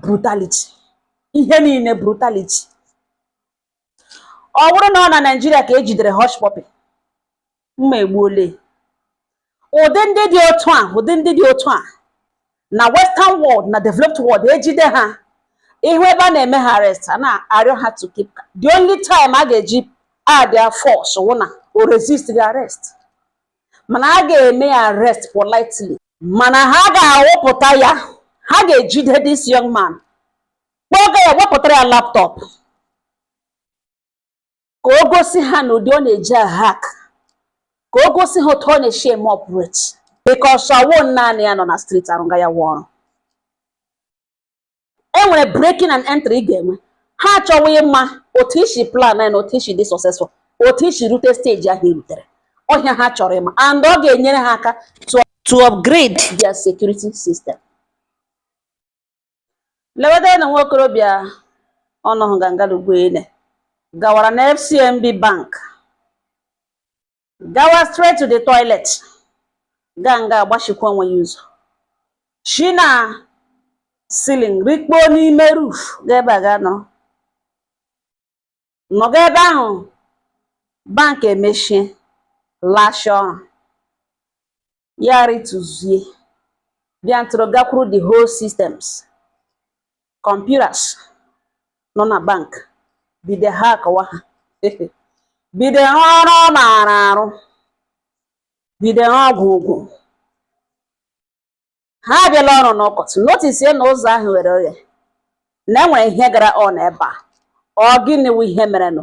brutality ihe niile brutality ọ bụrụ na ọ na Naịjirịa ka ejidere Hushpuppi mma egbuole ụdị ndị dị otu a ụdị ndị dị otu a na western world na developed world ejide ha ị hụ ebe a na-eme ha arrest a na-arịọ ha to keep the only time a ga-eji add their force wụ na o resist the arrest mana a ga-eme ya arrest politely mana ha ga-awụpụta ya ha ga-ejide this young man kpọga ya wepụtara ya laptop ka o gosi ha na ụdị ọ na-eji ahack ka o gosi ha otu ọ na-eshi eme operate because ọ wụ naanị ya nọ na street arụga ya wụ ọrụ e nwere breaking and entry ị ga-enwe ha achọwa ịma otu i shi plan na otu i shi dị successful otu i shi rute stage ahụ i rutere ọ ihe ha chọrọ ịma and ọ ga-enyere ha aka to upgrade their security system lewede na nwa okorobịa ọnọhụ gangalugwuele gawara na FCMB bank gawa straight to the toilet gaa nga a gbachikwa onwe ya ụzọ shi na ceiling rikpoo n'ime roof gaa ebe a gaa nọrọ nọga ebe ahụ bank emechie lashaa ọrụ ya arịtụzie bịa ntụrụ gakwuru the whole systems computers nọ na bank bido hackwa ha bido ọrụ ọ maara arụ bido ha ọgwụ ụgwụ ha abịala ọrụ n'ụtụtụ notisie na ụzọ ahụ ghere oghe na e nwere ihe gara on ebe a ọ gịnị wụ ihe merenụ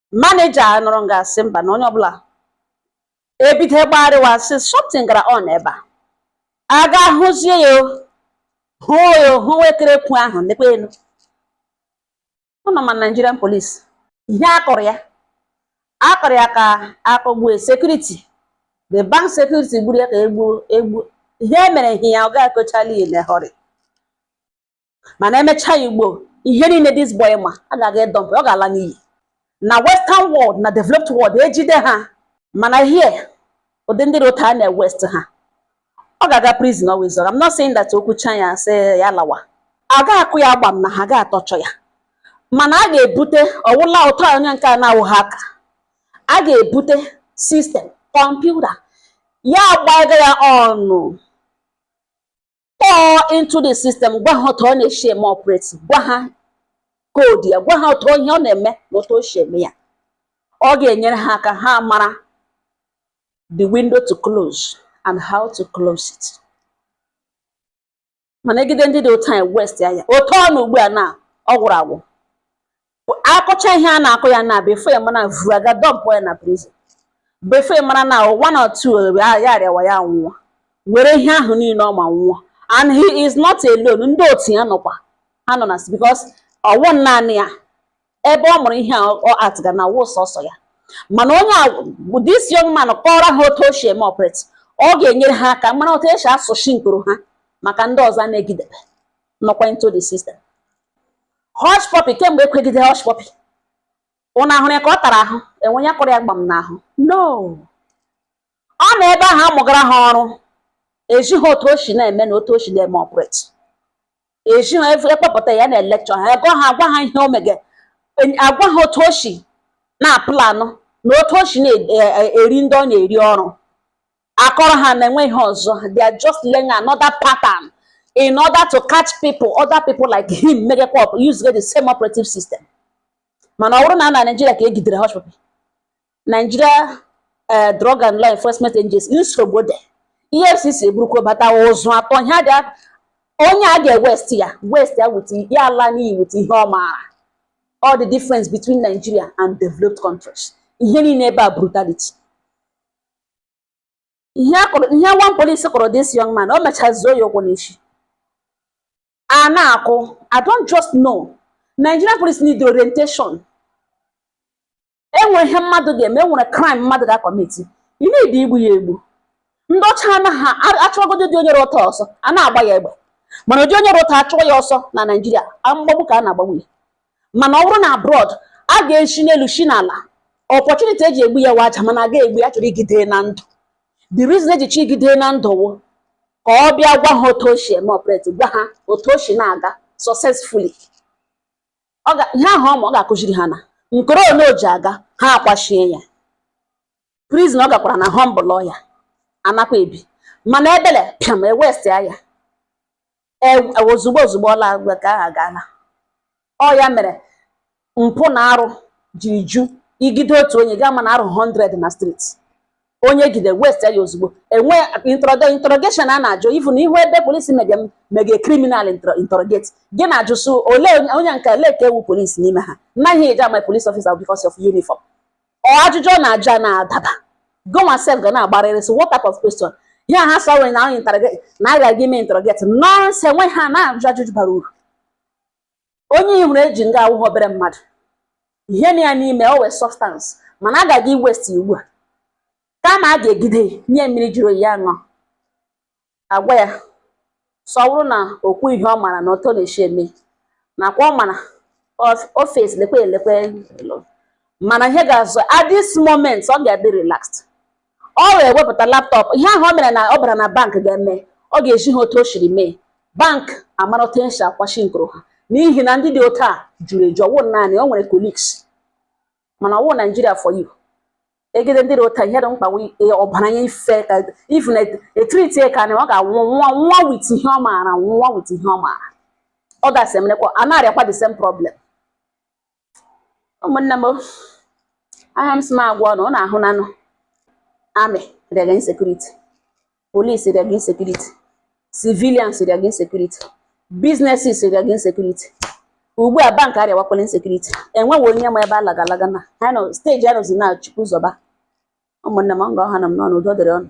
manager nọrọ nga a sị mba na onye ọbụla ebido gbagharịwa sị something gara on ebe a a gaa hụzie ya o, hụ ya o, hụ wekere ekwu ahụ nekwa elu unu ma Nigerian police ihe a kụrụ ya a kụrụ ya ka a kụgbue security the bank security gburu ya ka e gbuo egbuo ihe e mere ihe ya ọ ga-ekochali ya na họrị mana e mechaa ugbu a ihe niile this boy ma a ga-aga edump ọ ga-ala n'iyi na western world na developed world ejide ha mana here ụdị ndị dị otu a na-ewaste ha ọ ga-aga prison ọ wụ eziokwu I'm not saying that o kwuchaa ya sị ya lawa a ga-akụ ya agba m na ha ga-atorture ya mana a ga-ebute ọwụla ụtọ onye nke a na-awụ hacker a ga-ebute system computer ya gbaga ya ọnụ pour into the system gwa ha otu ọ na-eshi eme operate gwa ha koodu ya gwa ha otu ihe ọ na-eme na otu o shi eme ya ọ ga-enyere ha aka ha mara the window to close and how to close it mana egide ndị dị otu anyị waste ya otu ọ nọ ugbu a na ọ gwụrụ agwụ akụcha ihe a na-akụ ya na before ya mara vuru ya ga dọmpụ ya na prison before ya mara na one or two ebe a ya arịawa ya nwụọ were ihe ahụ niile ọ ma nwụọ and he is not alone ndị otu ya nọkwa ha nọ na because ọ wụ naanị ya ebe ọ mụrụ ihe a ọ atịga na wụ sọsọ ya mana onye a bụ this young man kọọrọ ha otu o si eme operate ọ ga-enyere ha aka mara otu esi asụchi nkoro ha maka ndị ọzọ a na-egidebe nọkwa into the system Hush puppy kemgbe ekwegide hush puppy ụnụ ahụrụ ya ka ọ tara ahụ enwe ihe kụrụ ya gbam n'ahụ no ọ nọ ebe ahụ amụgara ha ọrụ ezi ha otu o shi na-eme na otu o shi na-eme operate ezi ha akpọpụta ya na-elekchọ ha ego ha agwa ha ihe o mege agwa ha otu o shi na-apụlanụ na otu o shi na-eri e, e, ndị ọ na-eri ọrụ akọrọ ha na enwe ihe ọzọ they are just learning another pattern in order to catch people other people like him megekwa up use the same operative system mana ọ wụrụ na na Nigeria ka egidere hush puppy Nigeria eh, drug and law enforcement agency nsogbu dị EFCC eburukwa bata ụzụ atụọ ihe a ga onye a ga-ewest ya waste ya with ya ala n'iyi with ihe ọ maara ọ the difference between Nigeria and developed countries ihe niile ebe a brutality ihe akụrụ ihe one police kụrụ this young man o mechara zọọ ya ụkwụ n'isi a na-akụ I don't just know Nigerian police need orientation enwere ihe mmadụ ga-eme enwere crime mmadụ ga-akọmiti ị need igbu ya egbu ndị ọcha anaghị achụgodu ụdị onye rụta ọsọ a na-agba ya egbe mana ụdị onye rụta achụwa ya ọsọ na Naịjirịa mgbagbu ka a na-agbagbu ya mana ọ wụrụ na abroad a ga-eshi n'elu shi n'ala opportunity eji egbu ya waja mana aga egbu ya chọrọ igide na ndụ the reason eji chọ igide na ndụ wụ ka ọ bịa gwa ha otu o si eme operate gwa ha otu o si na-aga successfully ihe ahụ ọma ọ ga-akụziri ha na nkoro ole o ji aga ha akwachie ya prison ọ gakwara na-ahọmbụl ya anakwa ebi mana ebele pịam ewest ya ozugbo ozugbo ọla agwa ka aha gaala ọ ya mere mpụ na arụ ji ju igide otu onye gaa ma na arụ 100 na street onye egide waste ya ozugbo enwe interrogation a na-ajụ even ị hụ ebe polisi mege mege criminal interrogate gị na-ajụ so ole onye nke ole ka ọ wụ polisi n'ime ha anaghị eji ama police officer because of uniform ọ ajụjụ ọ na-ajụ a na-adaba gị nwa sef ga na-agbarịrị so what type of question ihe a ha sọ nwere na anyị interrogate na a ga-aga ime interrogate nonsense enweghị ha na-ajụ ajụjụ bara uru onye ị hụrụ eji nga awụghị obere mmadụ ihe nọ ya n'ime o nwee substance mana a ga-aga iwaste ugbu a kama a ga-egide nye mmiri jụrụ oyi ya ṅụọ agwa ya so ọ wụrụ na o kwuo ihe ọ mara na otu ọ na-eshi eme nakwa ọ mara ofes lekwe elekwe mana ihe ga-azụ at this moment ọ ga-adị relaxed ọ wee wepụta laptop ihe ahụ o mere na ọ bara na bank gaa mee ọ ga-ezi ha otu o shiri mee bank amara otu esi akwashi nkụrụ ha n'ihi na ndị dị otu a juru eju ọ wụ naanị o nwere colleagues mana ọ wụ Nigeria for you egide ndị dị otu a ihe dị mkpa ọbara ya ife ifu na etriti ka na ọ ga-anwụ nwụọ with ihe ọ maara nwụọ with ihe ọ maara ọ gasị emenekwa a na-arịakwa the same problem ụmụnne m ọ ha m sị m gwa unu unu ahụnanụ army rịaga insecurity police rịaga insecurity civilians rịaga insecurity businesses rịaga insecurity ugbu a bank arịawakwala insecurity enweghị onye ma ebe a laga alaga na ha nọ stage a nọzi na Chukwu zọba ụmụnne m nga ọ ha na m n'ọnụ udo dịrị unu